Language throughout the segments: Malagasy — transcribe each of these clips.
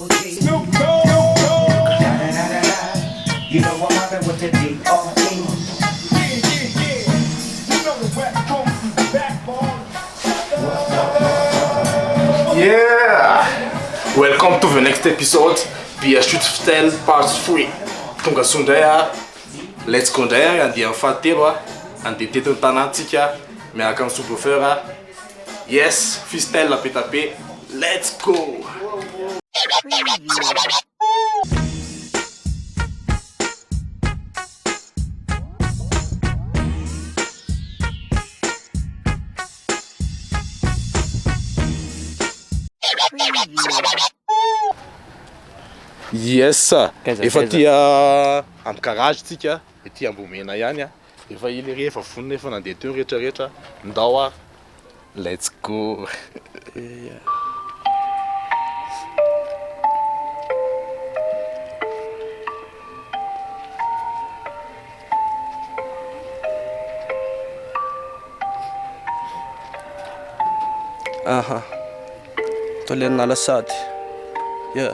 Welcome to the next episode Be a shoot ftel part 3 Tonga soa indray a Let's go indray a Andiany fahatelo a Andeha teto ny tanantsika Miaraka amin'ny sous-bluffeur a Yes, Fistelle be tape, let's go! Yes, efa aty amin'ny garage tsika, ety Ambohimena ihany. Efa ela ery efa vonona efa nandeha teo ny rehetra rehetra ndao ary let's go eh. Aha. Tolen'Alasady. Yeah.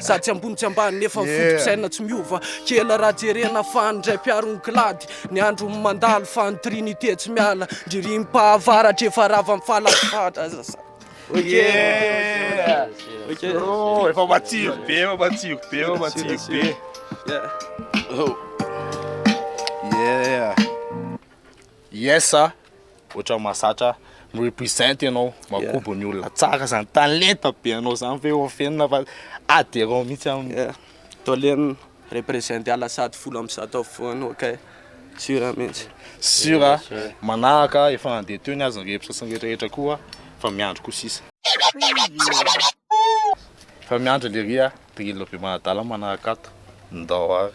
Sady tsy ambony tsy ambany nefa ny foto-pisainana tsy miova Kela raha jerena fa ny ndray mpiaro ny klady Ny andro no mandalo fa ny trinité tsy miala Ny ririm-pahavaratra efa rava amin'ny fahalafatra Zazà Yeah! Oh, efa matsiro be, efa matsiro be, efa matsiro be. Yeah. Oh. Yeah. Yes a, ohatran'ny mahazatra mi-represent ianao, makobo ny olona tsara zany, talenta be anao zany ve ho afenina fa adhérent mihitsy aminy. Yeah. Toleno represent ala sady folo amby zato afovoany ok. Sur mihitsy. Sur a, manahaka efa andeha teo ny azy ny reps sy ny rehetra rehetra koa fa miandry koa sisa. Efa miandry lery a, drill be manadala manahaka ato, ndao ary.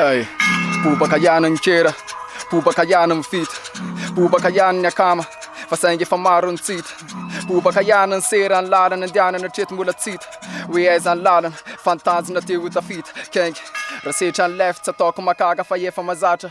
Hey, bobaka ihany ny kera, bobaka ihany ny vita, bobaka ihany ny akama, fa saingy efa maro ny tsita. Bobaka ihany ny sera, ny lalana andehanana hatreto mbola tsita. Hoe aiza ny lalana, fa ny tanjona te ho tafita. Kenga, raha setra ny left, tsy ataoko makaka fa efa mazatra.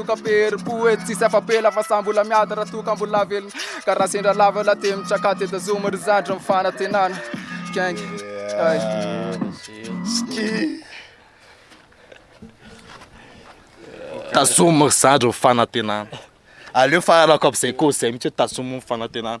Toka Père poety tsisy afa-pela fa samy mbola miady raha toa ka mbola velona Ka raha sendra lava la te mitsaka te tazoma ry zandry ny fanantenana Gang ay Tazomy ry zandry ny fanantenana Aleo fahalalako amizay cause zay mitsy hoe tazomy ny fanantenana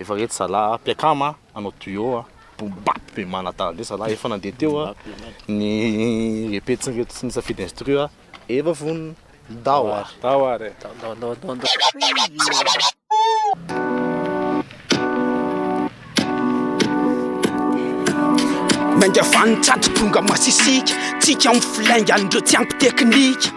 Efa reto zalah a, mpiakama a, hanao duo a, boom bap be manadala be zalah, efa nandeha teo a, ny repets ny reto tsy nisafidy instru a, efa vonona, ndao ary. Ndao ary e. Ndao ndao ndao ndao ndao. Nainga vaniny tsy ato tonga masisika, tsika amin'ny flaingan'ireo tsy ampy teknika.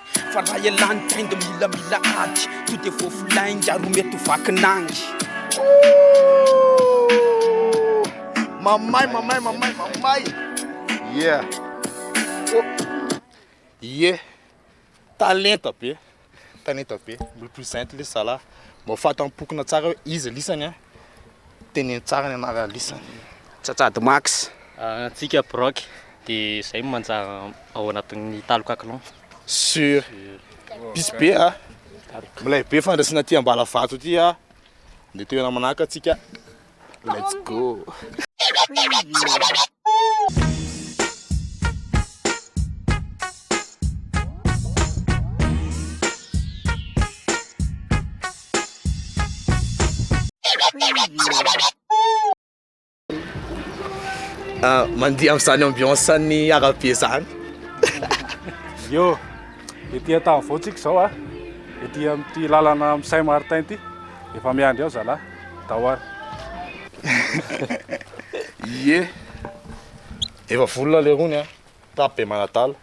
Fa raha ialany trend milamila ady To dia voafo lainga ro mety ho vaky nangy Ooh Mamay mamay mamay mamay Yeah Ooh Yeah Talenta be Talenta be Represent lesy zalahy Mba ho fatam-pokona tsara hoe iza lisany a. Teneno tsara ny anarana lisany. Tsatsato max. Antsika Brock de zay manjary ao anatin'ny taloka clan. Sur. Pisy be a. Milay be fandraisana aty Ambalavato aty a. Ndeha toerana manahaka atsika. Let's go. Mandeha amin'izany ambiance an'ny arabe izany. Yo, ety Antavao tsika izao a, ety amin'ity lalana amin'ny Saint Martin ity, efa miandry ao zalahy, Dawar. Ye, efa vonona leroa ny ahy, rap be manadala.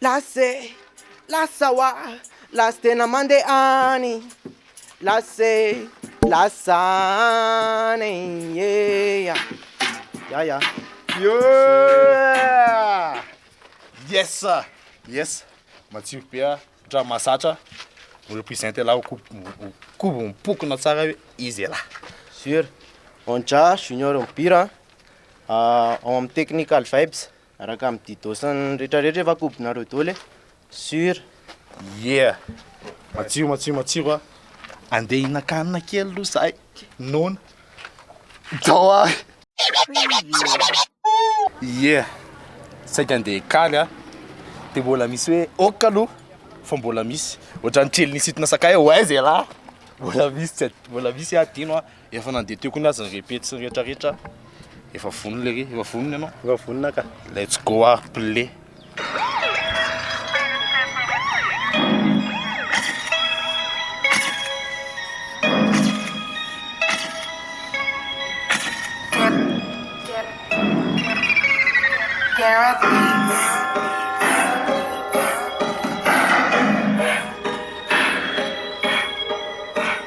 Lase, lasa wa, lasa tena mande any Lase, lasa any yeah Ya ya Yeah Yes a, yes Matsiro be a, otrany mahazatra a Represent elah ho kobo ho kobo mipokona tsara hoe izy elah Sur, Onja, Junior Mpihira a, ao amin'ny Technical Vibes Araka amin'ny didosany rehetra rehetra efa kobonareo doly e. Sur. Yeah. Matsiro matsiro matsiro a. Andeha hihinan-kanina kely aloha izahay. Noana. Jao a. Yeah. Saika andeha hikaly a. Dia mbola misy hoe ok aloha fa mbola misy. Ohatran'ny kely nisintona sakay hoe aiza ialahy. Mbola misy tsy mbola misy hadino a. Efa nandeha teo koa ny azy ny répète sy ny rehetra rehetra. Efa vonona lery, efa vonona ianao? Efa vonona ka. Let's go ah, play.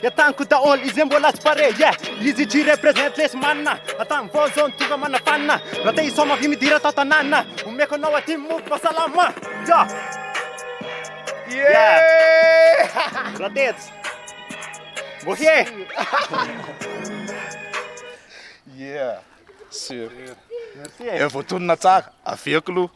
Dia tanko daholo izay mbola tsy pare yeah Lizzy G represent lesy manina Atany vao zao ny tonga manafanina Raha te hisaoma avy midira tao tanàna Omeko anao aty ny mofo mahasalama yeah Yeah Raha tetsy Bohe Yeah Sûr Merci e Efa voatonona tsara Avia k'lou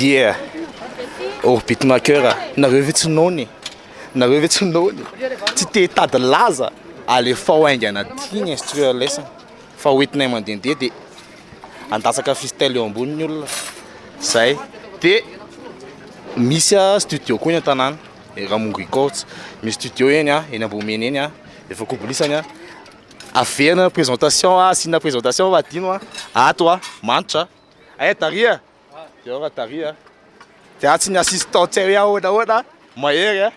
Yeah! Orbit Maker, nareo ve tsy noana e? Nareo ve tsy noana e? Tsy te hitady laza? Alefao haingana aty ny instrument lesson fa ho hitinay mandehandeha dia handatsaka fistel eo ambony ny olona. Zay. Dia misy studio koa eny an-tanàna. Ramongo Records misy studio eny a, eny Ambohimena eny a, efa kobolisany a. Averina présentation a, asina présentation fa adino a. Ato a, manitra. Ay Dary a. Dia ao ra Dary a. Dia atsy ny assistant tsy hay hoe ahoana ahoana, mahery a.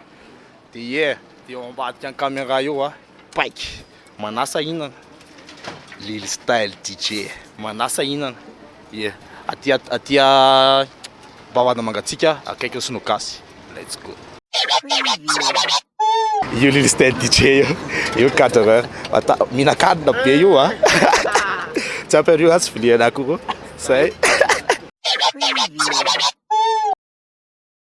Dia yeah, dia eo ambadika ny caméra eo a. Paika, manasa hinana, Lil style DJ, manasa hinana, yeah, aty aty Bavahana Mangatsiaka akaikin'ny sinoa gasy, let's go. Io Lil style DJ io, io cadreur ata mihinan-kanina be io a, tsy ampy an'io aho tsy vilia an'akoho, zay.